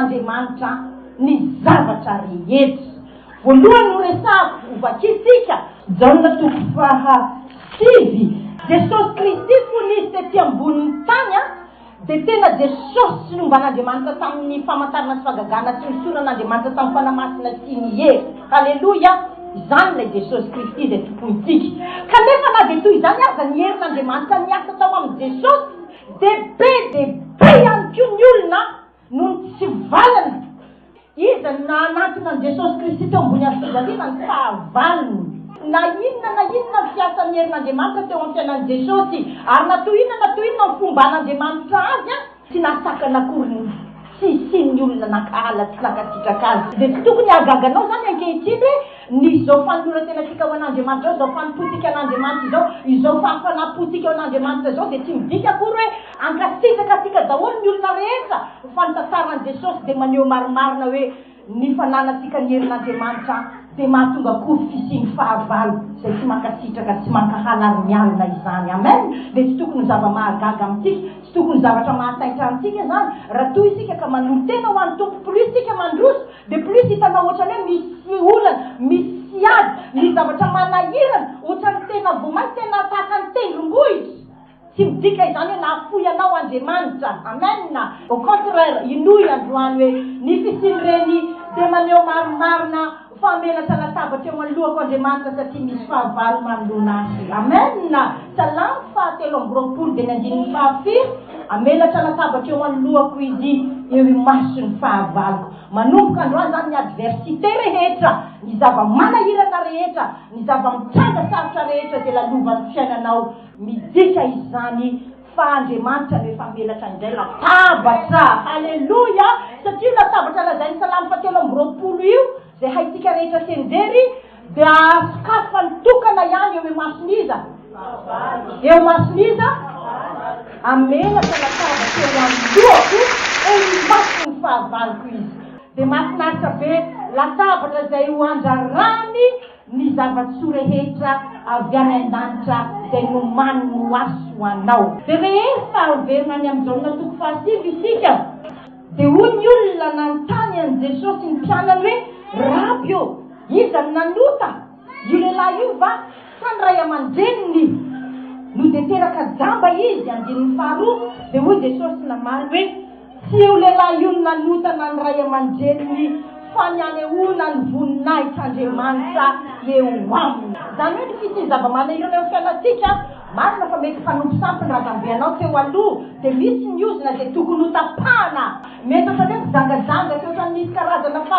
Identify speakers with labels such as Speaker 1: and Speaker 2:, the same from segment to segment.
Speaker 1: Andriamanitra ny zavatra rehetra. Voalohany noresahako, hovakiantsika, Jaona toko faha sivy. Jesosy Kristy fony Izy tety ambonin'ny tany, Dia tena Jesosy sy ny omban'Andriamanitra tamin'ny famantarana sy fagagana sy ny soran'Andriamanitra tamin'ny Fanahy Masina sy ny hery. Haleloia! Izany ilay Jesosy Kristy izay Tompontsika. Kanefa na dia toy izany aza ny herin'Andriamanitra niasa tao amin'i Jesosy dia be dia be ihany koa ny olona Noho ny tsy valiny, iza no nahanantona an'i Jesosy Kristy teo ambony hazofijaliana? Ny fahavalony. Na inona na inona ny fiasan'ny herin'Andriamanitra teo amin'ny fiainan'i Jesosy, ary na toy inona na toy inona ny fomban'Andriamanitra azy, tsy nahasakana akory ny tsy hisian'ny olona nankahala sy nankasitraka azy. Dia tsy tokony hahagaga anao izany ankehitriny hoe nisy izao fanoloran-tenantsika ho an'Andriamanitra izao, izao fanompoantsika an'Andriamanitra izao, izao fahafanam-pontsika ho an'Andriamanitra izao, dia tsy midika akory hoe, Ankasitrakatsika daholo ny olona rehetra ny fanitantarahan'i Jesosy dia maneho marimarina hoe ny fananantsika ny herin'Andriamanitra dia mahatonga koa fisian'ny fahavalo izay tsy mankasitraka tsy mankahala ary mialona izany amen dia tsy tokony ho zava-mahagaga amintsika tsy tokony ho zavatra mahataitra antsika izany raha toa isika ka manolo-tena ho an'ny Tompo plus isika mandroso dia plus hitanao ohatrany hoe misy olana misy ady misy zavatra manahirana ohatrany tena voamay tena tahaka ny tendrombohitra Tsy midika izany hoe nahafoy anao Andriamanitra. Amen. Au contraire, inoy androany hoe ny fisian'ireny dia maneho marimarina fa menatra latabatra eo anoloako Andriamanitra satria misy fahavalo manoloana Azy. Amen. Salamo fahatelo amby roapolo dia ny andininy fahafiry, Amenatra latabatra eo anoloako Izy, eo imaso ny fahavaloko. Manomboka androany izany ny adversite rehetra, ny zava-manahirana rehetra, ny zava-mitranga sarotra rehetra izay lalovan'ny fiainanao. Midika izany fa Andriamanitra no efa menatra indray latabatra. Aleloia! Satria io latabatra lazain'ny Salamo fahatelo amby roapolo io, izay haintsika rehetra feno very, dia ahasokafany tokana ihany eo imason'iza? Eo imason'iza? A Menatra latabatra eo anoloako, eo imason'ny fahavaloko Izy. Dia mahafinaritra be! Latabatra izay ho andrarany. Ny zava-tsoa rehetra avy any an-danitra izay nomanin'i Noasy ho anao. Dia rehefa averina any amin'i Jaona toko fahasivy isika, dia hoy ny olona nanontany an'i Jesosy ny mpianany hoe, Raby ô, iza no nanota, io lehilahy io va sa ny ray aman-dreniny? No dia teraka jamba izy. Andininy faharoa, dia hoy Jesosy namaly hoe. Tsy io lehilahy io no nanotana ny ray aman-dreniny fa ny hanehoana ny voninahitr'Andriamanitra eo aminy. Izany hoe ny fisian'ny zava-manahirana eo amin'ny fiainantsika, marina fa mety mpanompo sampy ny razambe anao teo aloha, dia misy ny ozona izay tokony hotapahana. Mety ohatra hoe mpijangajanga sy ohatra ny misy karazana fa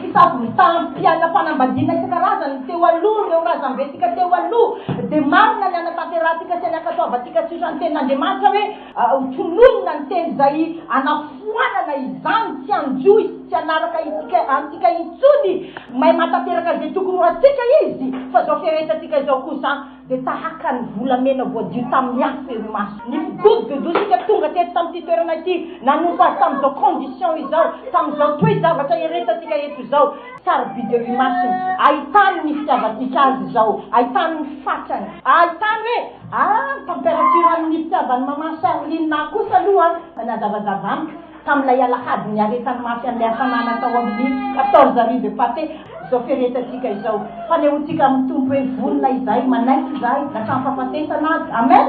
Speaker 1: fisavoritaham-piainam-panambadiana isan-karazany teo aloha ireo razambentsika teo aloha, dia marina ny hanatanterahantsika sy ny hankatoavantsika tsy ohatra ny tenin'Andriamanitra hoe, Ho tononina ny teny izay anafoanana izany tsy hanjo izy tsy hanaraka isika antsika intsony may matateraka izay tokony ho antsika izy fa izao fiaretantsika izao kosa dia tahaka ny volamena voadio tamin'ny afo eo imasony ny figodogodontsika tonga teto tamin'ity toerana ity nanompo azy tamin'izao condition izao tamin'izao toe-javatra eretantsika eto izao sarobidy eo imasony ahitany ny fitiavantsika azy izao ahitany ny fatrany ahitany hoe Ah! ny temperature amin'ny fitiavan'i maman Charline ahy kosa aloha dia nahazavazava amiko tamin'ilay alahady niaretany mafy an'ilay hafanana tao amin'ny quatorze rue de Pathé izao firehetantsika izao. Fanehoantsika amin'ny Tompo hoe vonona izahay manaiky izahay na samy fahafatesana aza. Amen!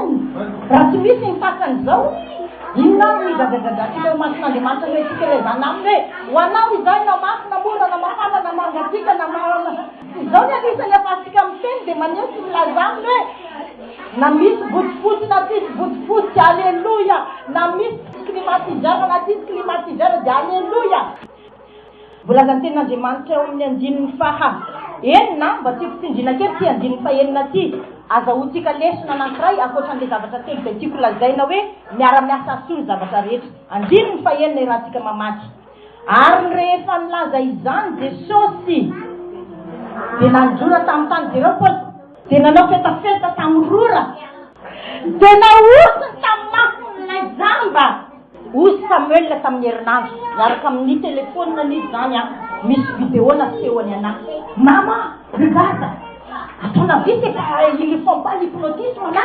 Speaker 1: Raha tsy misy ny takany izao, inona ary no higadragadrantsika eo imason'Andriamanitra no hitsikelezana Aminy hoe ho Anao izay na mafy na mora na mafana na manga antsika na ma. Izao ny anisan'ny ampahantsika amin'ny teny dia maneho sy milaza aminy hoe na misy bodofotsy na tsisy bodofotsy, Aleloia! Na misy climatiseur na tsisy climatiseur dia Aleloia! Voalazan'ny Tenin'Andriamanitra eo amin'ny andininy faha enina, mba tiako tsindriana kely ity andininy faha enina ity, azahoantsika lesona anankiray ankoatra an'ilay zavatra telo izay tiako lazaina hoe miara-miasa hahasolo zavatra rehetra. Andininy faha enina iarahantsika mamaky. Ary rehefa nilaza izany Jesosy, dia nanondrora tamin'ny tany dia ireo Paosy. Dia nanao fetafeta tamin'ny rora, dia nahosony tamin'ny mason'ilay jamba. Hoy Samuel tamin'ny herinandro, niaraka amin'ny telefonina ny izy izany an, misy video nasehony anah. Mama, regarde! Ataonao vite efa ils ne font pas l'hypnotisme là!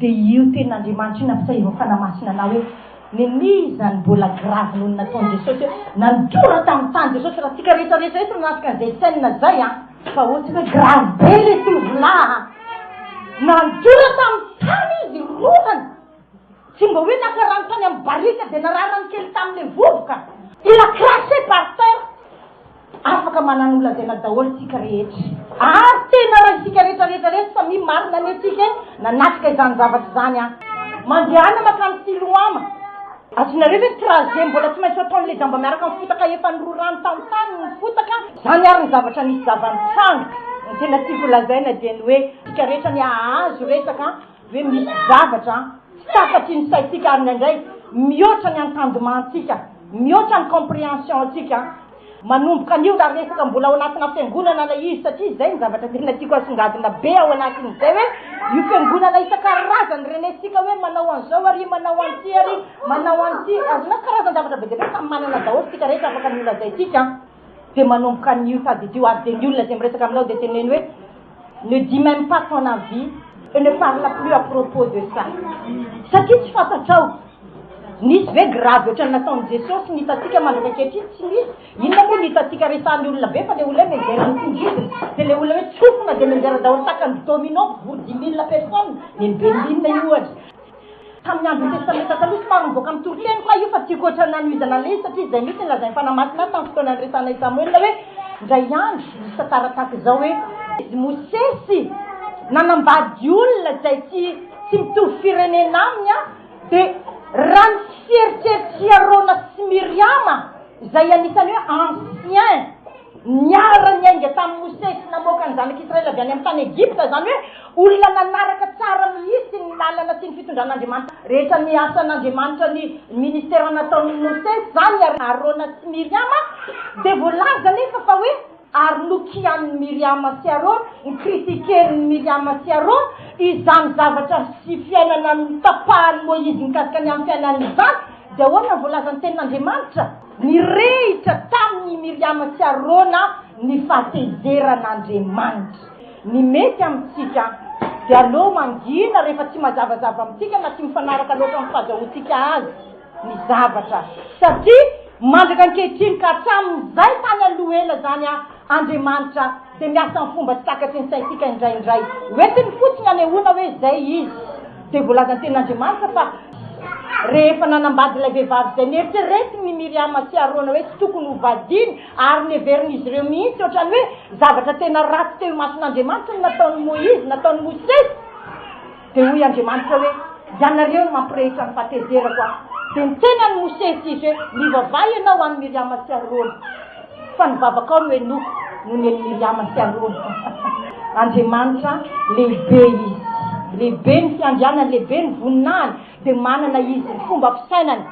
Speaker 1: Dia io tenin'Andriamanitra io nampisahevan'ny Fanahy Masina anao hoe, Nenia izany mbola gravy noho ny nataon'i Jesosy eo? Nandora tamin'ny tany Jesosy, raha tsika rehetra rehetra eto nanatrika an'izay scène izay an! Fa ohatsika hoe gravy be ilay tovolahy an! Nandora tamin'ny tany izy roany! Tsy mba hoe naka rano tany amin'ny barika dia nararany kely tamin'ilay vovoka! Il a craché par terre! Afaka manana olazaina daholo isika rehetra. Ary tena raha isika rehetra rehetra reto samia marina anie tsika e! Nanatrika izany zavatra izany an! Mandehana makany Siloama. Azonareo ve ny trajet mbola tsy maintsy ataon le jamba miaraka am fotaka efa nororany tam tany ny fotaka? Zany ary ny zavatra nisy zava nitranga. Ny tena tiako lazaina dia ny hoe isika rehetra anie hahazo resaka Ve misy zavatra tsy takatry ny saintsika ary indraindray mihoatra ny entendement-ntsika, mihoatra ny comprehension-ntsika? Manomboka anio raha resaka mbola ao anatina fiangonana ilay izy, satria izay no zavatra tena tiako asongadina be ao anatin'izay hoe io fiangonana isan-karazany renentsika hoe manao an'izao ary manao an'ity ary manao an'ity, azonao karazan-javatra be dia be, samy manana daholo isika rehetra afaka ny holazaintsika. Dia manomboka anio tadidio ary dia ny olona izay miresaka aminao dia teneno hoe ne dis meme pas ton avis et ne parle plus à propos de ça satria tsy fantatrao nisy ve grave ohatran'ny nataon'i Jesosy ny hitantsika mandraka ankehitriny tsy misy inona moa ny hitantsika resahan'ny olona be fa le olona hoe menjera ny tingidiny dia le olona hoe tsofina dia menjera daholo takan'ny domino mpivory dimy milina personne neny Berlin io ohatra Tamin'ny andron'ny Testamenta Taloha, somary nivoaka amin'ny toriteny koa io fa tiako ohatra ny nanohizana an'ilay izy satria izay mihitsy no lazain'ny Fanahy Masina azy tamin'ny fotoana niresahana an'i Samoela hoe, Indray andro, nisy tantara tahaka izao hoe, izy Mosesy nanambady olona izay tsy tsy mitovy firenena aminy an, dia raha ny fieritreritry Arona sy Miriama izay anisan'ny hoe anciens niara-niainga tamin'i Mosesy namoaka ny zanak'Israely avy any amin'ny tany Egypta, izany hoe, Olona nanaraka tsara mihitsy ny lalana sy ny fitondran'Andriamanitra rehetra ny asan'Andriamanitra ny ministera nataon'i Mosesy izany ary Arona sy Miriama dia voalaza anefa fa hoe ary nokianin'i Miriama sy Arona, ncritiquen'i Miriama sy Arona, izany zavatra sy fiainana notapahan'i Moizy mikasika ny amin'ny fiainany izany, dia ahoana ny voalazan'ny tenin'Andriamanitra? Nirehitra tamin'i Miriama sy Arona ny fahatezeran'Andriamanitra. Ny mety amintsika dia aleo mangina rehefa tsy mazavazava amintsika na tsy mifanaraka loatra amin'ny fahazahoantsika azy ny zavatra satria mandraka ankehitriny ka hatramin'izay tany aloha ela izany an, Andriamanitra dia miasa amin'ny fomba tsy takatry ny saintsika indraindray. Hoentiny fotsiny hanehoana hoe izay Izy. Dia voalazan'ny Tenin'Andriamanitra fa rehefa nanambady ilay vehivavy izay neritreretiny i Miriama sy Arona hoe tsy tokony hovadiany, Ary neverin'izy ireo mihitsy hoatran'ny hoe zavatra tena ratsy teo imason'Andriamanitra ny nataon'i Moizy, nataon'i Mosesy. Dia hoy Andriamanitra hoe, Ianareo no mampirehitra ny fahatezerako aho. Dia niteny an'i Mosesy Izy hoe, Mivavaha ianao ho an'i Miriama sy Arona, fa ny vavakao no henoiko noho ny an'i Miriama sy Arona. Andriamanitra lehibe Izy. Lehibe ny fiandrianany, lehibe ny voninahiny. Dia manana Izy ny fomba fisainany.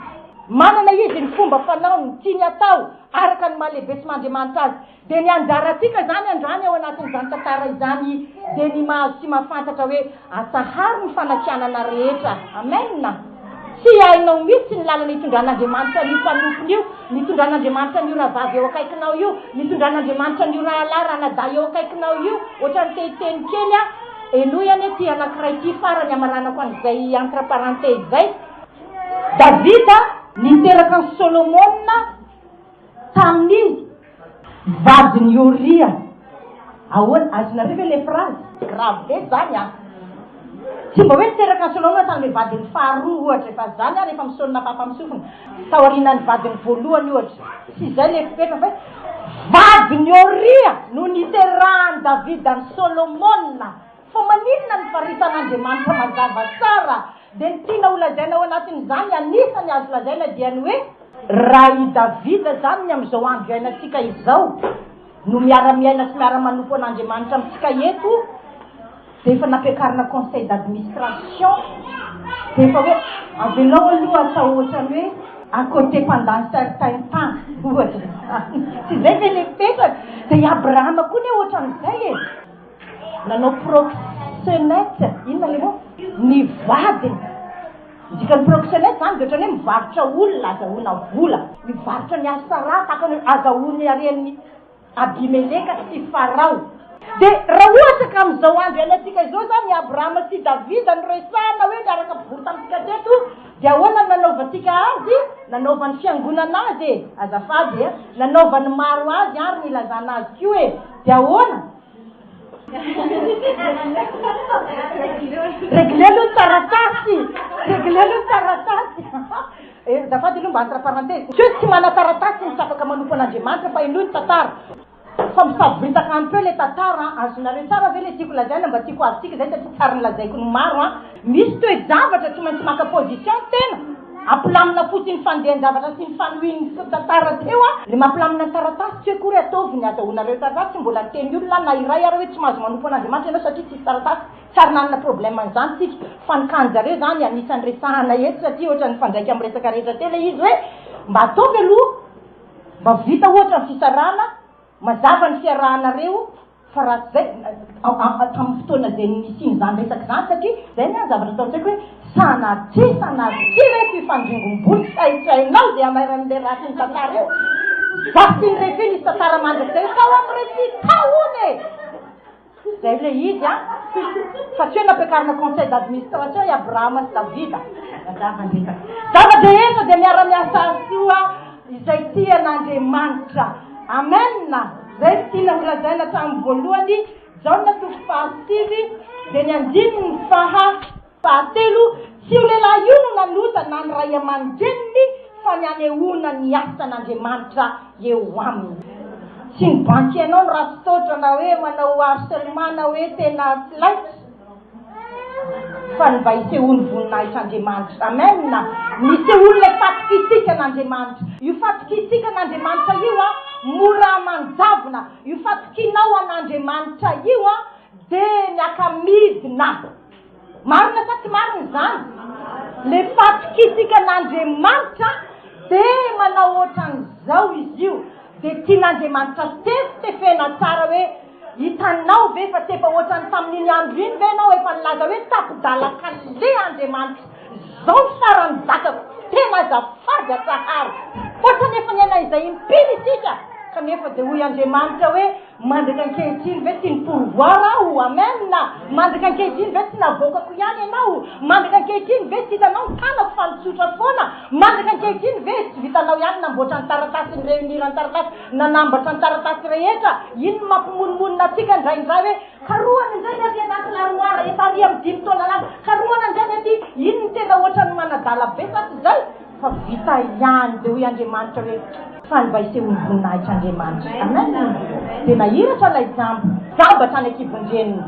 Speaker 1: Manana Izy ny fomba fanaony, ny tiany hatao. Araka ny maha-lehibesoman'Andriamanitra azy, dia ny anjarantsika izany androany ao anatin'izany tantara izany dia ny mahazo sy mahafantatra hoe atsaharo ny fanakianana rehetra. Amen! Tsy hainao mihitsy ny lalana itondran'Andriamanitra an'io mpanompony io, ny itondran'Andriamanitra an'io rahavavy eo akaikinao io, ny itondran'Andriamanitra an'io rahalahy, ranadahy eo akaikinao io. Ohatran'ny te hiteny kely aho, henoy anie ity anankiray ity farany hamaranako an'izay entre parenthèses izay. Davida niteraka an'i Solomona tamin'ny vadin'i Oria. Ahoana? Azonareo ve ilay frazy? Grave be izany an! Tsy mba hoe niteraka an'i Solomona tamin'ilay vadiny faharoa, ohatra, efa izany ary efa misaona fampamisofina, taorianan'ny vadiny voalohany, ohatra. Tsy izay ilay fepetra, fa hoe vadin'i Oria no niterahan'i Davida an'i Solomona. Fa maninona ny faritan'Andriamanitra mazava tsara dia ny tiana ho lazaina ao anatin'izany anisany azo lazaina dia ny hoe raha i Davida izany ny amin'izao andro iainantsika izao no miara-miaina sy miara-manompo an'Andriamanitra amintsika eto dia efa nampiakarina conseil d'admistration dia efa hoe avelao aloha atao ohatrany hoe à côté pendant certain temps ohatra izany tsy izay ve ilay mipetraka dia i Abrahama koa anie ohatran'izay e! Nanao proxenète inona le mot? ny vadiny. Ny dikan'ny proxenète zany de ohatran'ny hoe mivarotra olona azahoana vola. Mivarotra ny Asara tahaka ny hoe azahoany haren'i Abimeleka sy Farao. De raha ohatra ka amin'izao andro iainantsika izao zany i Abrahama sy i Davida no resahana hoe niaraka mpivory tamintsika teto de ahoana no nanaovantsika azy? Nanaovan'ny fiangonana azy e! Azafady e! Nanaovan'ny maro azy ary nilazana azy koa e! De ahoana? Regle aloha ny taratasy! Regle aloha ny taratasy! Eh, azafady aloha mba entre parenthèses, tsy hoe tsy manan-taratasy ny tsy afaka manompo an'Andriamanitra fa henoy ny tantara. Fa misavoritaka un peu ilay tantara an! Azonareo tsara ve ilay tiako lazaina? Mba tiako azontsika izay satria tsarin'ny lazaiko ny maro an! Misy toe-javatra tsy maintsy maka position ny tena, ampilamina fotsiny fandehan-javatra sy ny fanohin'ny tantara teo a! Ny mampilamina ny taratasy tsy hoe akory ataovy ny azahoanareo taratasy, tsy mbola niteny olona aho na iray ary hoe tsy mahazo manompo an'Andriamanitra ianao satria tsisy taratasy, tsy ary nanana problème an'izany tsika, fa ny cas-n'jareo izany anisan'ny resahana eto satria ohatra nifandraika amin'ny resaka rehetra teo ilay izy hoe mba ataovy aloha mba vita ohatra ny fisarahana, mazava ny fiarahanareo, Fa raha tsy izay, tamin'ny fotoana izay nisian'izany resaka izany, satria izay ny ahy ny zavatra atao an-tsaiko hoe, sanatria sanatria re ity fandringombolo tsy haintshainao dia hamairan'ilay ratsy ny tantara eo. Vasin re fy nisy tantara mandrakizay tao amin'ireo fy tao hono e! Izay ilay izy an! Fa tsy hoe nampiakarina conseil d'administration i Abrahama sy Davida. Mazava ny resaka. Zava-drehetra dia miara-miasa soa. Izay tia an'Andriamanitra. Amen! Izay no tiana ho lazaina hatramin'ny voalohany, Jaona toko faha sivy dia ny andininy faha fahatelo, Tsy io lehilahy io no nanota na ny ray aman-dreniny fa ny hanehoana ny asan'Andriamanitra eo aminy. Tsy ny banky ianao no ratsy taotra na hoe manao harcèlement na hoe tena tsy laitra. fa ny mba isehoan'ny voninahitr'Andriamanitra. Amen! Nisehoan'ilay fatokiantsikaN'Andriamanitra. Io fatokiantsikaN'Andriamanitra io an, mora aman-javona. Io fatokianao an'Andriamanitra io an, dia ny aka-midina. Marina sa tsy marina izany? Ilay fatokiantsikaN'Andriamanitra dia manao ohatran'izao izy io, dia tian'Andriamanitra tefitefena tsara hoe, Hitanao ve fa tsy efa ohatran'ny tamin'iny andro iny ve ianao efa nilaza hoe tapi-dala kale Andriamanitra, izao faran'ny zakako, tena azafady atsaharo. Ohatran'ny efa niaina izay impiry isika, kanefa dia hoy Andriamanitra hoe, mandraka ankehitriny ve tsy ni-pourvoir aho, amen, mandraka ankehitriny ve tsy navoakako ihany ianao, mandraka ankehitriny ve tsy hitanao ny tanako fa nitsotra foana, mandraka ankehitriny ve tsy vitanao ihany namboatra ny taratasy, ny reunir ny taratasy, Nanambatra ny taratasy rehetra iny ny mampimonomonona antsika indraindray hoe, Karohana indray ny aty anaty larimoara efa àry amin'ny dimy taona lasa. Karohana indray ny aty. Iny ny tena hoatran'ny manadala be sa tsy izay? Fa vita ihany. Dia hoy Andriamanitra hoe, Fa ny mba isehoan'ny voninahitr'Andriamanitra. Amen! Dia nahiratra ilay jamba. Jamba hatrany an-kibon-dreniny.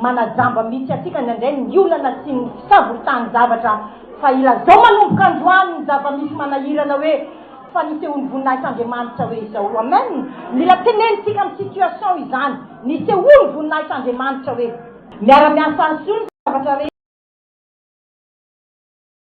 Speaker 1: Manajamba mihitsy antsika indraindray ny olana sy ny fisavoritahany zavatra. Fa ilazao manomboka androany ny zava-misy manahirana hoe, fa nisehoan'ny voninahitr'Andriamanitra hoe izao. Amen! Mila tenenitsika amin'ny situation izany. Nisehoan'ny voninahitr'Andriamanitra hoe. Miara-miasa hahasoa ny zavatra rehetra.